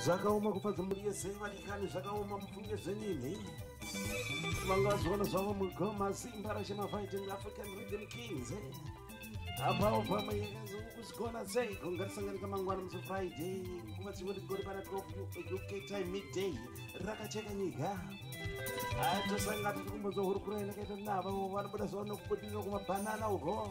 zvakaoma kufadza mhuri yese vadikani zvakaoma mufunge zvenyini vangazoona zvavo mugoma simba rashe mafighting african region kings apawo pamwe yakazokusigona sei kungatisanganika mangwana musi friday nguva chingoti gori pana 12 uk time midday rakacheka nyika tosanga tichikumbozohurukura inakaita navo vanobuda zvavanokubudirira kumabhanana uko